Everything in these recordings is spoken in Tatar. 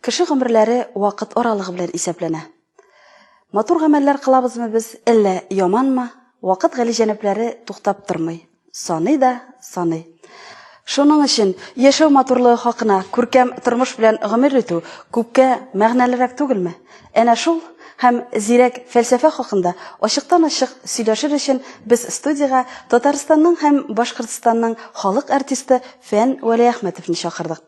Кеше гомерләре вакыт аралыгы белән исәпләнә. Матур гамәлләр кылабызмы без, әллә яманмы, вакыт галиҗәнапләре туктап тормый. Саный да, саный. Шуның өчен яшәү матурлыгы хакына күркәм тормыш белән гомер итү күпкә мәгънәлерәк түгелме? Әнә шул һәм зирәк фәлсәфә хакында ачыктан-ачык сөйләшер өчен без студиягә Татарстанның һәм Башкортстанның халык артисты Фән Вәлиәхмәтовны чакырдык.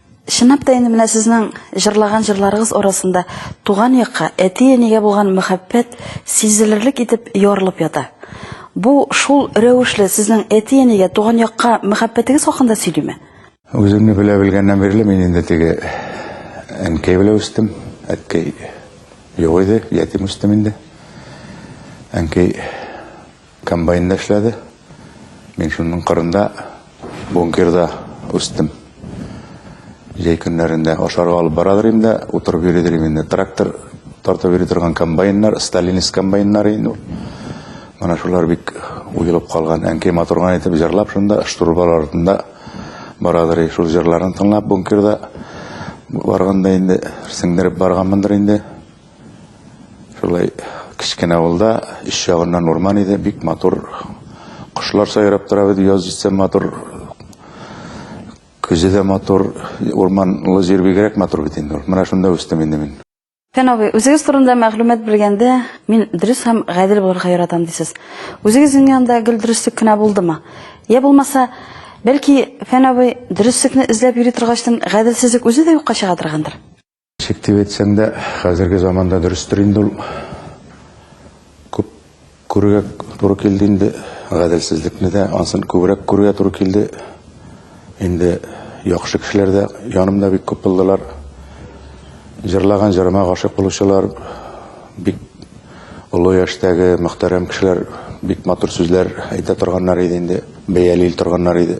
Чынлап та инде менә сезнең җырлаган җырларыгыз арасында туган якка, әти-әнигә булган мәхәббәт сизелерлек итеп ярылып ята. Бу шул рәвешле сезнең әти-әнигә, туган якка мәхәббәтегез хакында сөйлиме? Үземне белә белгәннән бирле мин инде теге әнкәй белән үстем. Әткәй юк иде, ятим үстем инде. Әнкәй Комбайн да эшләде. Мин шуның кырында бункерда үстем. Җәй көннәрендә ашарга алып барадыр инде, утырып йөридер инде. Трактор тартып йөри торган комбайннар, сталинис комбайннар инде. Менә шулар бик уелып калган. Әнкәй матурган итеп җырлап шунда штурбал артында барадыр. Шул җырларын тыңлап бункерда барганда инде сеңдереп барганмындыр инде. Шулай кечкенә авылда өч ягыннан урман иде, бик матур кошлар сайрап тора иде, яз җитсә матур, көзе дә матур, урманлы җир бигрәк матур бит инде. Менә шунда үстем инде мин. Фән абый, үзегез турында мәгълүмат белгәндә, мин дөрес һәм гадел булырга яратам дисез. Үзегезнең янда гел дөреслек кенә булдымы? Я булмаса, бәлки, Фән абый, дөреслекне эзләп йөри торгачтан, гаделсезлек үзе дә юкка чыга торгандыр? Чик дип әйтсәң дә, хәзерге заманда дөрестер инде ул. Күп күрергә туры килде инде, гаделсезлекне дә, ансын күбрәк күрергә туры килде. Инде яхшы кешеләр дә янымда бик күп булдылар. Җырлаган җырыма гашыйк булучылар, бик олы яшьтәге мөхтәрәм кешеләр бик матур сүзләр әйтә торганнар иде инде, бәялил торганнар иде.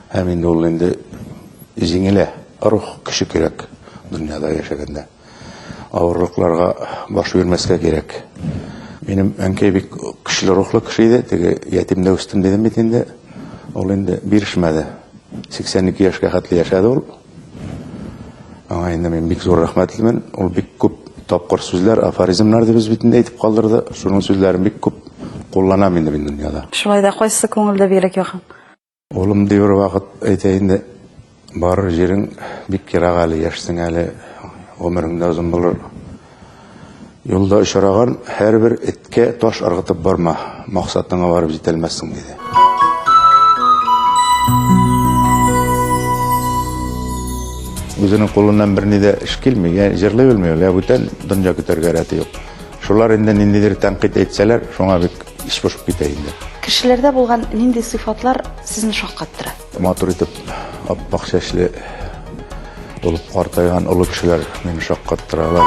Һәм инде ул инде җиңелә. Рух көче кирәк дөньяда яшәгәндә. Авырлыкларга баш бирмәскә кирәк. Минем әнкәй бик көчле рухлы кеше иде. Теге ятимдә үстем дидем бит инде. Ул инде бирешмәде. 82 яшькә хәтле яшәде ул. Аңа инде мин бик зур рәхмәтлемен. Ул бик күп тапкыр сүзләр, афоризмнар дип битендә әйтеп калдырды. Шуның сүзләрен бик күп кулланам инде мин дөньяда. Шулай да кайсы күңелдә бигрәк якын? Улым, ди бер вакыт, әйтә инде, барыр җирең бик ерак әле, яшьсең әле, гомерең дә озын булыр. Юлда очраган һәрбер эткә таш ыргытып барма, максатыңа барып җитәлмәссең, диде. Үзенең кулыннан берни дә эш килми, җырлый белми ул, бүтән дөнья көтәргә рәте юк. Шулар инде ниндидер тәнкыйть әйтсәләр, шуңа бик эч пошып китә инде. Кешеләрдә булган нинди сыйфатлар сезне шаккаттыра? Матур итеп ап-ак чәчле булып картайган олы кешеләр мине шаккаттыралар.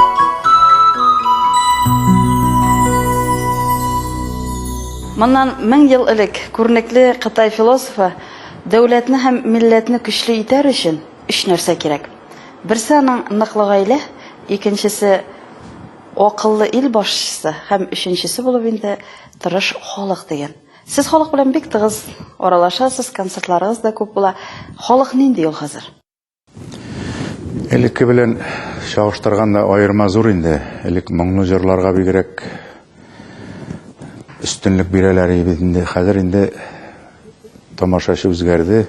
Моннан мең ел элек күренекле Кытай философы Дәүләтне һәм милләтне көчле итәр өчен өч нәрсә кирәк. Берсе аның ныклы гаилә, икенчесе Акыллы ил башчысы һәм өченчесе булып инде тырыш халык дигән. Сез халык белән бик тыгыз аралашасыз, концертларыгыз да күп була. Халык нинди ул хәзер? Элекке белән чагыштырганда аерма зур инде. Элек моңлы җырларга бигрәк өстенлек бирәләр иде инде. Хәзер инде тамашачы үзгәрде.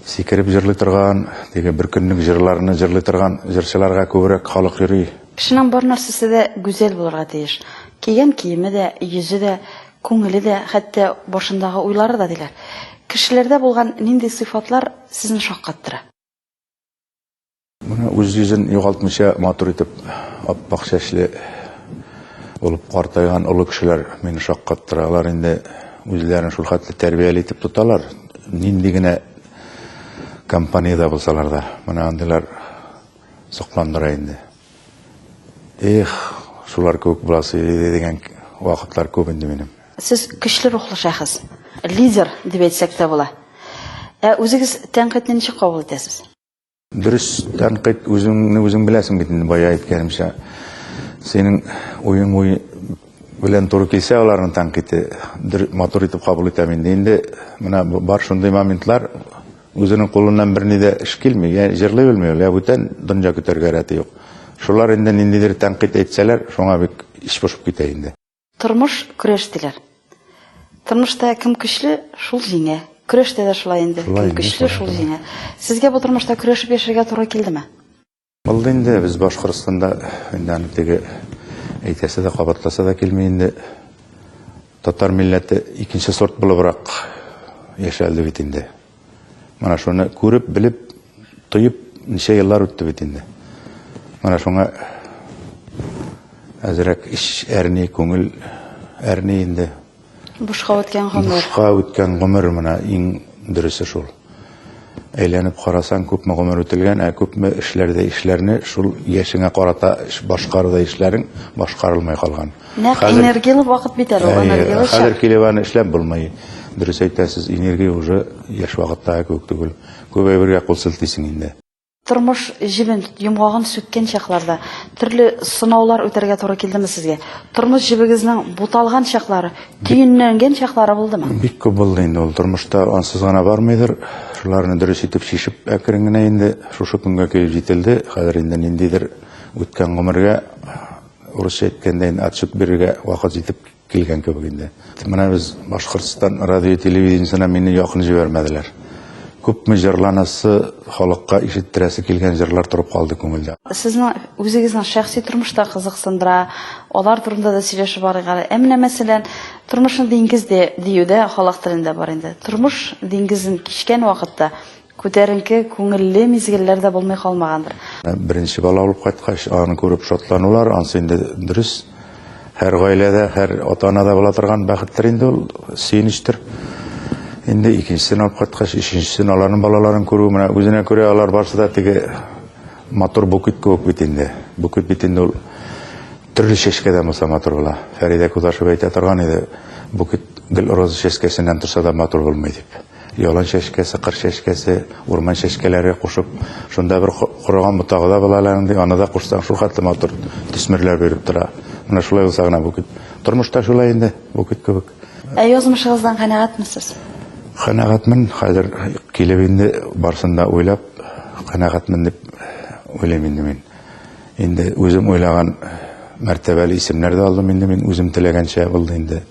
Сикереп җырлый торган, теге бер көнлек җырларны җырлый торган җырчыларга күбрәк халык йөри. Кешенең бар нәрсәсе дә гүзәл булырга тиеш. Кигән киеме дә, йөзе дә, күңеле дә, хәтта башындагы уйлары да, диләр. Кешеләрдә булган нинди сыйфатлар сезне шаккаттыра? Менә үз йөзен югалтмыйча матур итеп ап-ак чәчле булып картайган олы кешеләр мине шаккаттыра. Алар инде үзләрен шул хәтле тәрбияле итеп тоталар, нинди генә компаниядә булсалар да. Менә андыйлар Сокландыра инде. Эх, шулар кебек буласы иде дигән вакытлар күп инде минем. Сез көчле рухлы шәхес, лидер дип әйтсәк тә була. Ә үзегез тәнкыйтьне ничек кабул итәсез? Дөрес тәнкыйть үзеңне үзең беләсең бит инде бая әйткәнемчә. Синең уең уй белән туры килсә аларның тәнкыйте матур итеп кабул итәм инде. Инде менә бар шундый моментлар Үзенең кулыннан берни дә эш килми, я җырлый белми ул, я бүтән дөнья көтәргә рәте юк. Шулар инде ниндидер тәнкыйть әйтсәләр, шуңа бик эч пошып китә инде. Тормыш, көрәш диләр. Тормышта кем көчле, шул җиңә. Көрәштә дә шулай инде. Кем көчле, шул җиңә. Сезгә бу тормышта көрәшеп яшәргә туры килдеме? Булды инде без Башкортстанда инде аны теге әйтәсе дә кабатласа да килми инде. Татар милләте икенче сорт булыбрак яшәлде бит инде. Менә шуны күреп, белеп, тоеп ничә еллар үтте бит инде. Менә шуңа әзрәк эш әрни, күңел әрни инде. Бушка үткән гомер. Бушка үткән гомер менә иң дөресе шул. Әйләнеп карасаң, күпме гомер үтелгән, ә күпме эшләрдә эшләрне шул яшеңә карата башкаруда эшләрең башкарылмай калган. Нәкъ энергияле вакыт бит әле, энергияле чак. Хәзер килеп аны эшләп булмый. Дөрес әйтәсез, энергия уже яшь вакытта күп түгел. Күп әйбергә кул селтисең инде. Тормыш җебен йомгагын сүккән чакларда төрле сынаулар үтәргә туры килдеме сезгә? Тормыш җебегезнең буталган чаклары, төенләнгән чаклары булдымы? Бик күп булды инде ул тормышта ансыз гына бармыйдыр. Шуларны дөрес итеп чишеп, әкрен генә инде шушы көнгә килеп җителде. Хәзер инде ниндидер үткән гомергә урысча әйткәндә инде отчет бирергә вакыт җитеп Килгән кебек инде. Менә без Башкортстан радио телевидениесенә мине якын җибәрмәделәр. Күпме җырланасы, халыкка ишеттерәсе килгән җырлар торып калды күңелдә. Сезне үзегезнең шәхси тормыш та кызыксындыра, алар турында да сөйләшеп барыйк әле. Ә менә мәсәлән, тормышны диңгез дә диюдә халык телендә бар инде. Тормыш диңгезен кичкән вакытта Күтәренке, күңелле мизгелләр дә булмый калмагандыр. Беренче бала алып кайткач, аны күреп шатланулар, ансы инде дөрес. Һәр гаиләдә, һәр ата-анада була торган бәхеттер инде ул, сөенечтер. Инде икенчесен алып кайткач, өченчесен, аларның балаларын күрү, менә үзенә күрә алар барысы да теге матур букет кебек бит инде. Букет бит инде ул төрле чәчкәдән булса матур була. Фәридә Кудашева әйтә торган иде, букет гел роза чәчкәсеннән торса да матур булмый дип. Ялан чәчкәсе, кыр чәчкәсе, урман чәчкәләре кушып, шунда бер корыган ботагы да була әле андый, аны да кушсаң, шул хәтле матур төсмерләр биреп тора. Менә шулай булса гына бу кит. Тормышта шулай инде, бу кит кебек. Ә язмышыгыздан канәгатьмесез? Канәгатьмен, хәзер килеп инде барсын да уйлап, канәгатьмен дип уйлыйм инде мин. Инде үзем уйлаган мәртәбәле исемнәр дә алдым инде мин, үзем теләгәнчә булды инде.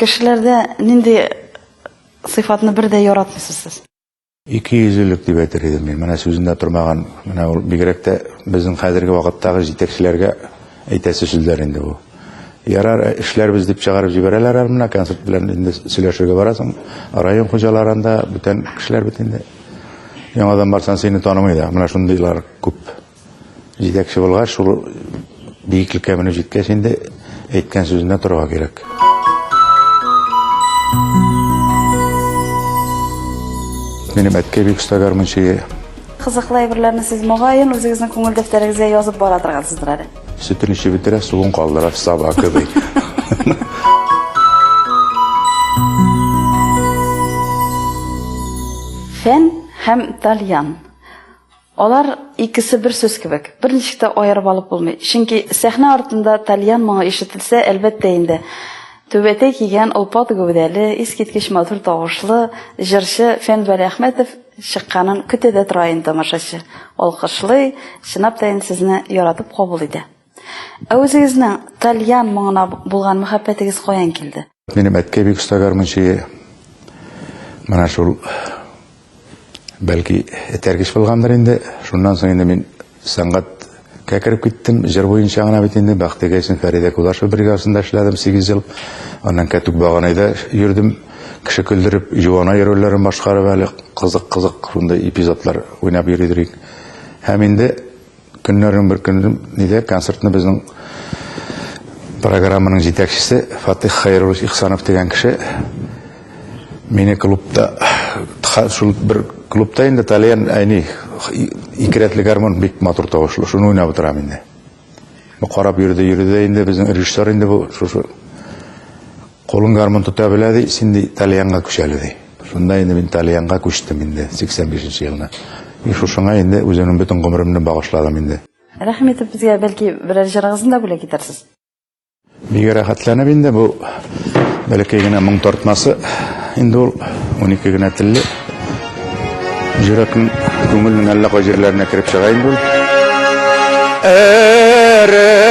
Кешеләрдә нинди сыйфатны бер дә яратмыйсыз сез? Икейөзлелек дип әйтер идем мин. Менә сүзендә тормаган, менә ул бигрәк тә безнең хәзерге вакыттагы җитәкчеләргә әйтәсе сүзләр инде бу. Ярар, э, эшләрбез дип чыгарып җибәрәләр әле менә концерт белән инде сөйләшергә барасың. Район хуҗаларында бүтән кешеләр бит инде. Яңадан барсаң, сине танымый да. Менә шундыйлар күп. Җитәкче булгач, шул биеклеккә менеп җиткәч инде әйткән сүзенә торырга кирәк. Минем әткәй бик оста гармунчы. Кызыклы әйберләрне сез могаен үзегезнең күңел дәфтәрегезгә язып бара торгансыздыр әле. Сөтен эчеп бетерә, суын калдыра, саба кебек. Фән һәм тальян. Алар икесе бер сүз кебек, берничек тә аерып алып булмый. Чөнки сәхнә артында тальян моңы ишетелсә, әлбәттә инде, түбәтәй кигән, олпат гәүдәле, искиткеч матур тавышлы җырчы Фән Вәлиәхмәтов чыкканын көтә дә тора инде тамашачы. Алкышлый, чынлап та инде сезне яратып кабул итә. Ә үзегезнең тальян моңына булган мәхәббәтегез каян килде? Минем әткәй бик оста гармунчы. Менә шул бәлки этәргеч булгандыр инде. Шуннан соң инде мин сәнгатькә кереп киттем. Җыр буенча гына бит инде Бәхтигә исем Фәридә Кулашева бригадасында эшләдем 8 ел. Аннан Кәтүк Баганайда йөрдем. Кеше көлдереп, юана йөрүләрен башкарып әле кызык-кызык шундый эпизодлар уйнап йөридек. Һәм инде Көннәрнең бер көнендә концертны безнең программаның җитәкчесе Фатих Хайруллович Ихсанов дигән кеше мине клубта шул бер клубта инде Талиан әни ике рәтле гармон бик матур тавышлы. Шуны уйнап утырам инде. Бу карап йөрде, йөрде инде безнең режиссер инде бу шушы Кулың гармун тота белә, ди, син ди, тальянга күч әле, ди. Шунда инде мин тальянга күчтем инде 85 нче елны. И шушыңа инде үземнең бөтен гомеремне багышладым инде. Рәхим итеп безгә бәлки берәр җырыгызны да бүләк итәрсез. Бигә рәхәтләнеп инде бу бәләкәй генә моң тартмасы. Инде ул 12 генә телле. Җөрәкнең күңелнең әллә кай җирләренә кереп чыга инде ул. Эремә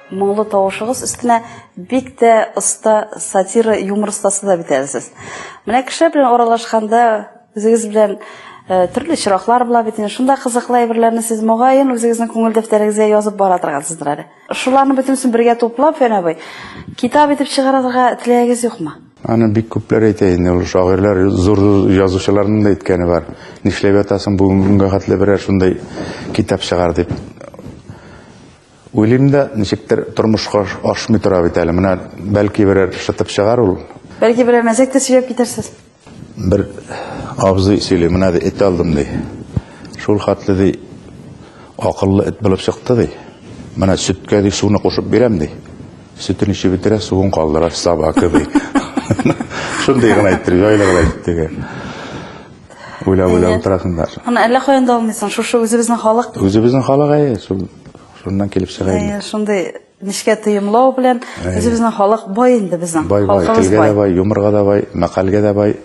Моңлы тавышыгыз өстенә бик тә оста сатира юмор остасы да бит әле сез. Менә кеше белән аралашканда үзегез белән э, төрле чираклар була бит. инде. Шунда кызыклы әйберләрне сез мөгаен үзегезнең күңел дәфтәрегезгә язып бара торгансыздыр әле. Шуларны бөтенесен бергә туплап, Фән абый, китап итеп чыгарырга теләгегез юкмы? Аны бик күпләр әйтә инде, ул шагыйрьләр, зур язучыларның да әйткәне бар. Нишләп ятасың бүгенгә хәтле берәр шундай китап чыгар дип. Уйлыйм да, ничектер тормышка ашмый тора бит әле. Менә бәлки берәр шытып чыгар ул. Бәлки берәр мәзәк тә сөйләп китәрсез. Бер абзый сөйли, менә ди, эт алдым ди. Шул хәтле ди, акыллы эт булып чыкты ди. Менә сөткә ди суны кушып бирәм ди. Сөтен ичеп бетерә, суын калдыра, саба кеби. Шундый гына әйтте, җайлы гына әйтте. Уйлап уйлап Әйе. утырасың да. Аны әллә каян да алмыйсың. Шушы үзебезнең халык. Үзебезнең халык әйе, шул шуннан килеп чыга инде. Әйе, шундый нечкә тоемлау белән Әйе. үзебезнең халык бай инде безнең. Бай бай, Халкыбыз телгә дә бай, юморга да бай, мәкальгә дә бай,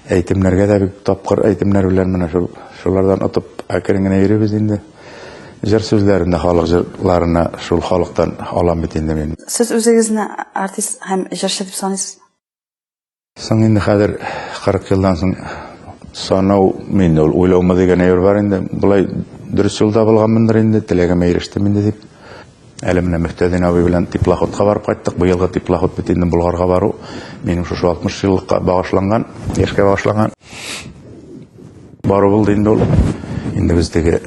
әйтемнәргә дә бик тапкыр әйтемнәр белән менә шул шулардан отып әкрен генә йөрибез инде. Җыр сүзләрен дә халык җырларына шул халыктан алам бит инде мин. Сез үзегезне артист һәм җырчы дип саныйсызмы? Соң инде хәзер 40 елдан соң санау мин ул уйлаумы дигән әйбер бар инде. Болай дөрес юлда булганмындыр инде, теләгемә ирештем инде дип. Әле менә Мөхтәдин абый белән теплоходка барып кайттык. Быелгы теплоход бит инде Болгарга бару минем шушы 60 еллыкка багышланган, яшькә багышланган. Бару булды инде ул. Инде без теге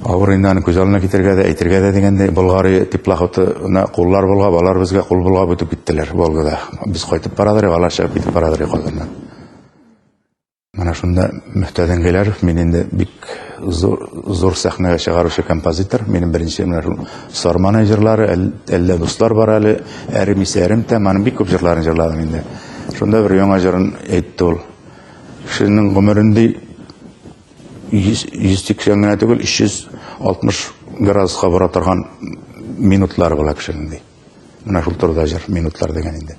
авыр инде аны күз алдына китергә дә, әйтергә дә дигәндәй, Болгари теплоходына куллар булгап, алар безгә кул булгап үтеп киттеләр Волгада. Без кайтып барадыр, алар чыгып китеп барадыр Казаннан. Менә шунда Мөхтәдин Гиләров, мин инде бик зур, зур сәхнәгә чыгаручы композитор. Минем беренче менә шул Сарманы җырлары, әллә дуслар бар әле, әремисә әремтә, маны бик күп җырларын җырладым инде. Шунда бер яңа җырын әйтте ул. Кешенең гомерендә 180 генә түгел, 360 градуска бара торган минутлар була кешенең ди. Менә шул турыда җыр, минутлар дигән инде.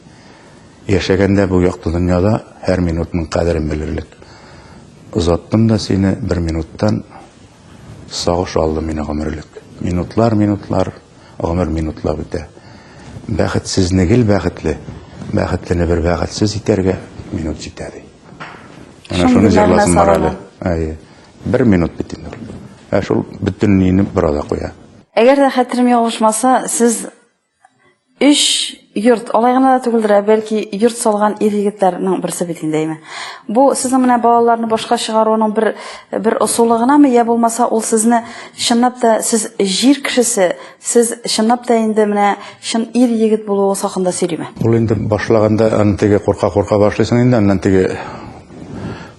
Яшәгәндә бу якты дөньяда һәр минутның кадерен белерлек. Озаттым да сине бер минуттан, Сагыш алды мине гомерлек. Минутлар, минутлар, гомер минутлап үтә. Бәхетсезне гел бәхетле, бәхетлене бер бәхетсез итәргә минут җитә ди. Менә шуны җырласым бар әле. Әйе. Бер минут бит инде. Ә шул бөтенләйне бер ада куя. Әгәр дә хәтерем ялгышмаса, сез Өч йорт, алай гына да түгелдер, ә бәлки йорт салган ир-егетләрнең берсе бит инде, әйме. Бу сезнең менә балаларны башка чыгаруның бер бер ысулы гынамы, я булмаса ул сезне чынлап та сез җир кешесе, сез чынлап та инде менә чын ир-егет булуыгыз хакында сөйлиме? Ул инде башлаганда аны теге курка-курка башлыйсың инде, аннан теге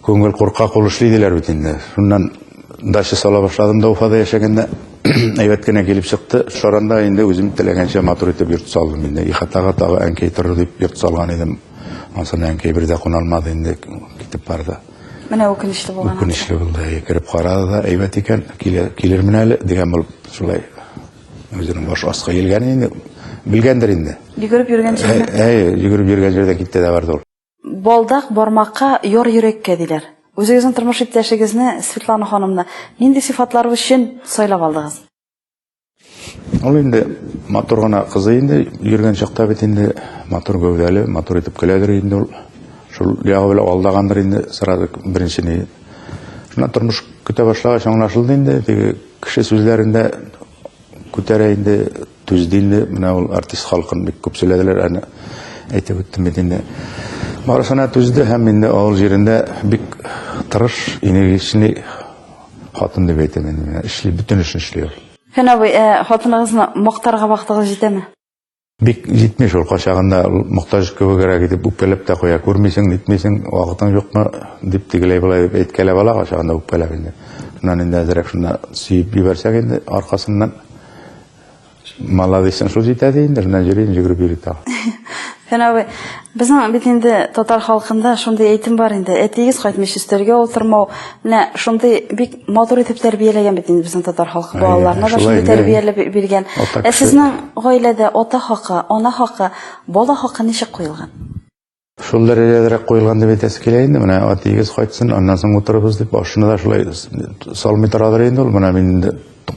күңел куркак ул эшли диләр бит инде. Шуннан дача сала башладым да Уфада яшәгәндә. Әйбәт кенә килеп чыкты. Шаранда инде үзем теләгәнчә матур итеп йорт салдым инде. Ихатага тагы әнкәй торыр дип йорт салган идем. Ансына әнкәй бер дә куналмады инде, китеп барды. Менә үкенечле булган. Үкенечле булды. Әйе, кереп карады да, әйбәт икән, килер, килермен әле дигән булып шулай үзенең баш аска елган инде. Белгәндер инде. Йөгереп йөргән җиренә. Әйе, йөгереп йөргән җирдә китте дә барды ул. Балдак бармакка, яр йөрәккә, диләр. Үзегезнең тормыш иптәшегезне, Светлана ханымны, нинди сыйфатлары өчен сайлап алдыгыз? Ул инде матур гына кызый инде, йөргән чакта бит инде матур гәүдәле, матур итеп көләдер инде ул. Шул ягы белән алдагандыр инде сразу беренче ни. Шуннан тормыш көтә башлагач аңлашылды инде, теге кеше сүзләрендә күтәрә инде Түз дилде, менә ул артист халкын бик күп сөйләделәр, әне әйтеп үттем бит инде. Барысына түзде һәм инде авыл җирендә бик тырыш, энергичный хатын дип әйтәм инде менә. Эшли, бөтен эшне эшли ул. Фән абый, ә хатыныгызны мактарга вакытыгыз җитәме? Бик җитми шул, кайчагында мохтаҗ кебегрәк итеп үпкәләп тә куя. Күрмисең, нитмисең, вакытың юкмы, дип тегеләй болай дип әйткәләп ала кайчагында үпкәләп инде. Шуннан инде әзрәк шунда сөеп җибәрсәк инде аркасыннан Молодец, шул җитә ди инде, менә йөрим, йөгереп йөри тагы. Фән абый, безнең бит инде татар халкында шундый әйтем бар инде, әтиегез кайтмыйча өстәлгә утырмау. Менә шундый бик матур итеп тәрбияләгән бит инде безнең татар халкы балаларына да шундый тәрбияләп биргән. Ә сезнең гаиләдә ата хакы, ана хакы, бала хакы ничек куелган? Шул дәрәҗәдерәк куелган дип әйтәсе килә инде. Менә атиегез кайтсын, аннан соң утырыбыз дип, башына да шулай салмый торадыр инде ул. Менә мин инде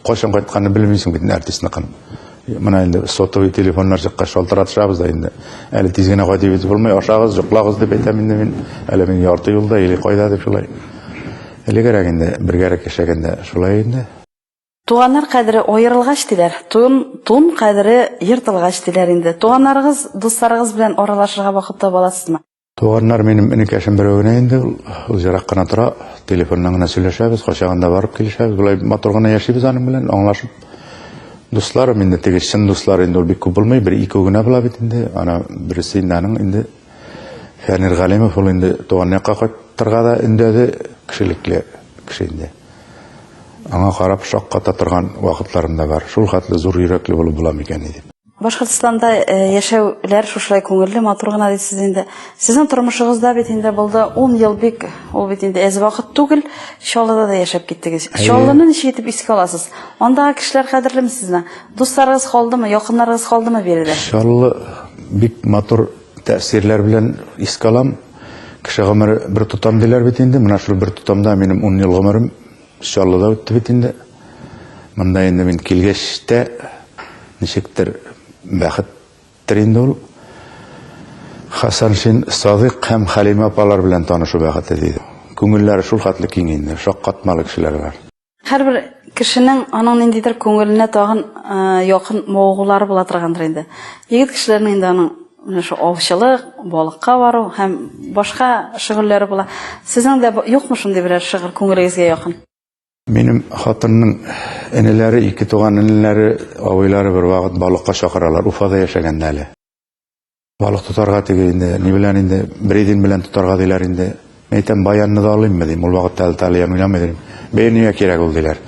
кайчан кайтканын белмисең бит артистныкын. Менә инде сотовый телефоннар чыккач шалтыратышабыз да инде. Әле тиз генә кайтып итеп булмый, ашагыз, йоклагыз дип әйтәм инде мин. Әле мин ярты юлда или кайда дип шулай. Элегрәк инде бергәрәк яшәгәндә шулай инде. Туганнар кадере аерылгач, диләр, тун, тун кадере ертылгач, диләр инде. Туганнарыгыз, дусларыгыз белән аралашырга вакыт таба аласызмы? Туганнар минем энекәшем берәү генә инде, ул узерак кына тора, телефоннан гына сөйләшәбез, кайчагында барып килешәбез, болай матур гына яшибез аның белән, аңлашып. Дусларым инде теге чын дуслар инде ул бик күп булмый, бер-ике генә була бит инде, ана берсе инде аның инде Фәнир Галимов ул инде туган якка кайтырга да өндәде, кешелекле кеше инде. Аңа карап шакката торган вакытларым да бар. Шул хәтле зур йөрәкле булып була микән дип. Башкортстанда э, яшәүләр шушылай күңелле, матур гына дисез инде. Сезнең тормышыгызда бит инде булды 10 ел бик, ул бит инде әз вакыт түгел, Чаллыда да яшәп киттегез. Чаллыны ничек итеп искә аласыз? Андагы кешеләр кадерлеме сезне? Дусларыгыз калдымы, якыннарыгыз калдымы биредә? Чаллы бик матур тәэсирләр белән искә алам. Кеше гомере бер тотам диләр бит инде. Менә шул бер тотамда минем 10 ел гомерем Чаллыда үтте бит инде. Монда инде мин килгәч тә ничектер бәхеттер инде ул. Хасаншин Садык һәм Хәлимә апалар белән танышу бәхете диде. Күңелләре шул хәтле киң инде, шаккатмалы кешеләр бар. Һәрбер кешенең аның ниндидер күңеленә тагын якын мавыгулары була торгандыр инде. Егет кешеләрнең инде аның менә шул авчылык, балыкка бару һәм башка шөгыльләре була. Сезнең дә юкмы шундый берәр шөгыль күңелегезгә якын? Минем хатынның энеләре, ике туган энеләре, абыйлары бервакыт балыкка чакыралар, Уфада яшәгәндә әле. Балык тотарга теге инде, ни белән инде, бредин белән тотарга диләр инде. Мин әйтәм, баянны да алыйммы дим, ул вакытта әле талия уйнамый дим. Бәйер нигә кирәк ул диләр.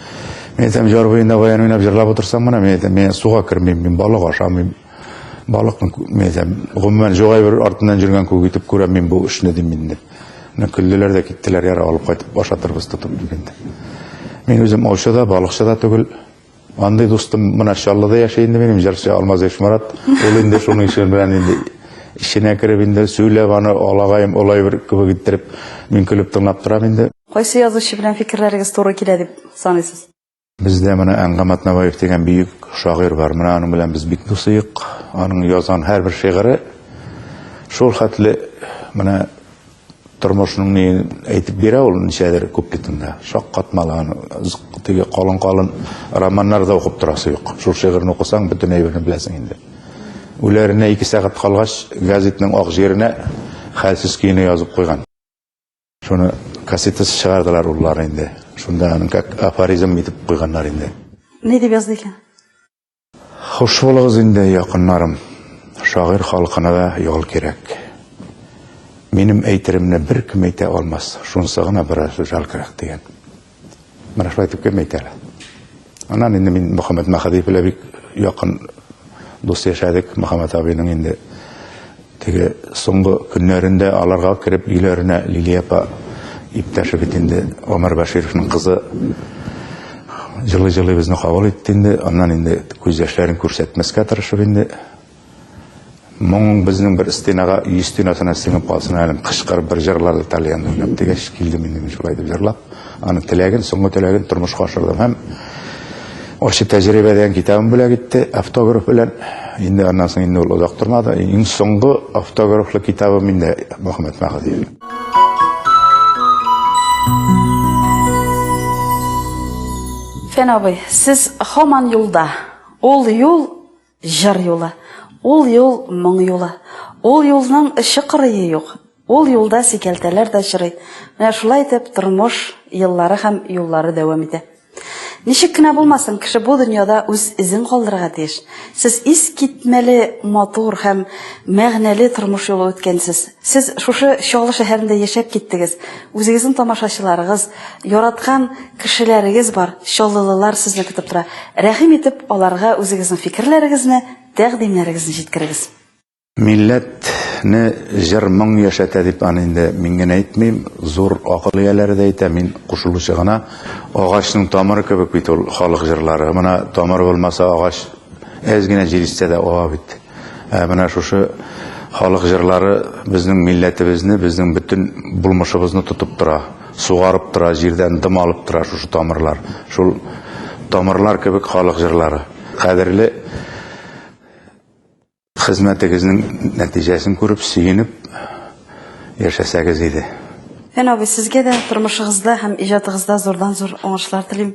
Мин әйтәм, җар буенда баян уйнап җырлап утырсаң мына, мин әйтәм, мин суга кермим, мин балык ашамыйм. Балыкны, мин әйтәм, гомумән җогай бер артыннан җөргән күк итеп күрәм мин бу эшне дим инде. Менә көлделәр дә киттеләр, яра алып кайтып ашатырбыз тотып дигәндә. Мин үзем аучы да, балыкчы да түгел, Андый дустым менә Чаллыда яши инде минем җырчы Алмаз Ишмарат. Ул инде шуның эше белән инде эченә кереп инде сөйләп аны алагаем олай бер кебек иттереп мин көлеп тыңлап торам инде. Кайсы язучы белән фикерләрегез туры килә дип саныйсыз? Бездә менә Әнгам Атнабаев дигән бөек шагыйрь бар. Менә аның белән без бик дусыек. Аның язган һәрбер шигыре шул хәтле менә Тормышның ни әйтеп бирә ул ничәдер күп бит инде. Шаккатмалаган, теге калын-калын романнар да укып торасы юк. Шул шигырьне укысаң, бөтен әйберне беләсең инде. Үләренә ике сәгать калгач, газетның ак җиренә хәлсез көенә язып куйган. Шуны кассетасы чыгардылар уллары инде. Шунда аның как афоризм итеп куйганнар инде. Ни дип язды икән? Хуш булыгыз инде, якыннарым. Шагыйрь халкына да ял кирәк. Минем әйтеремне беркем әйтә алмас. Шунсы гына бераз жал кирәк дигән. Менә шулай итеп кем әйтә әле? Аннан инде мин Мөхәммәт Мәхәдиев белән бик якын дус яшәдек. Мөхәммәт абыйның инде Теге соңгы көннәрендә аларга кереп өйләренә Лилия апа иптәше бит инде Омар Бәшировның кызы җылы-җылы безне кабул итте инде. Аннан инде күз яшьләрен күрсәтмәскә тырышып инде моң безнең бер стенага, өй стенасына сеңеп калсын әле, кычкырып бер җырлады тальян уйнап дигәч, килдем инде мин шулай дип җырлап. Аның теләген, соңгы теләген тормышка ашырдым һәм ачы тәҗрибәдән китабын бүләк итте автограф белән. Инде аннан соң инде ул озак тормады. Иң соңгы автографлы китабым инде Мөхәммәт Мәхәдиев. Фән абый, сез хаман юлда. Ул юл Җыр юлы. Ул юл моң юлы. Ул юлның эче кырые юк. Ул юлда сикәлтәләр дә чырый. Менә шулай итеп тормыш еллары һәм юллары дәвам итә. Ничек кенә булмасын, кеше бу дөньяда үз эзен калдырырга тиеш. Сез искитмәле матур һәм мәгънәле тормыш юлы үткәнсез. Сез шушы Чаллы шәһәрендә яшәп киттегез. Үзегезнең тамашачыларыгыз, яраткан кешеләрегез бар, чаллылылар сезне көтеп тора. Рәхим итеп, аларга үзегезнең фикерләрегезне, тәкъдимнәрегезне җиткерегез. Милләтне җыр-моң яшәтә дип аны инде мин генә әйтмим, зур акыл ияләре дә әйтә, мин кушылучы гына. Агачның тамыры кебек бит ул халык җырлары. Менә тамыр булмаса, агач әз генә җил исә дә ава бит. Ә менә шушы халык җырлары безнең милләтебезне, безнең бөтен булмышыбызны тотып тора, сугарып тора, җирдән дым алып тора шушы тамырлар. Шул тамырлар кебек халык җырлары. Кадерле хезмәтегезнең нәтиҗәсен күреп, сөенеп яшәсәгез иде. Фән абый, сезгә дә тормышыгызда һәм иҗатыгызда зурдан-зур уңышлар телим.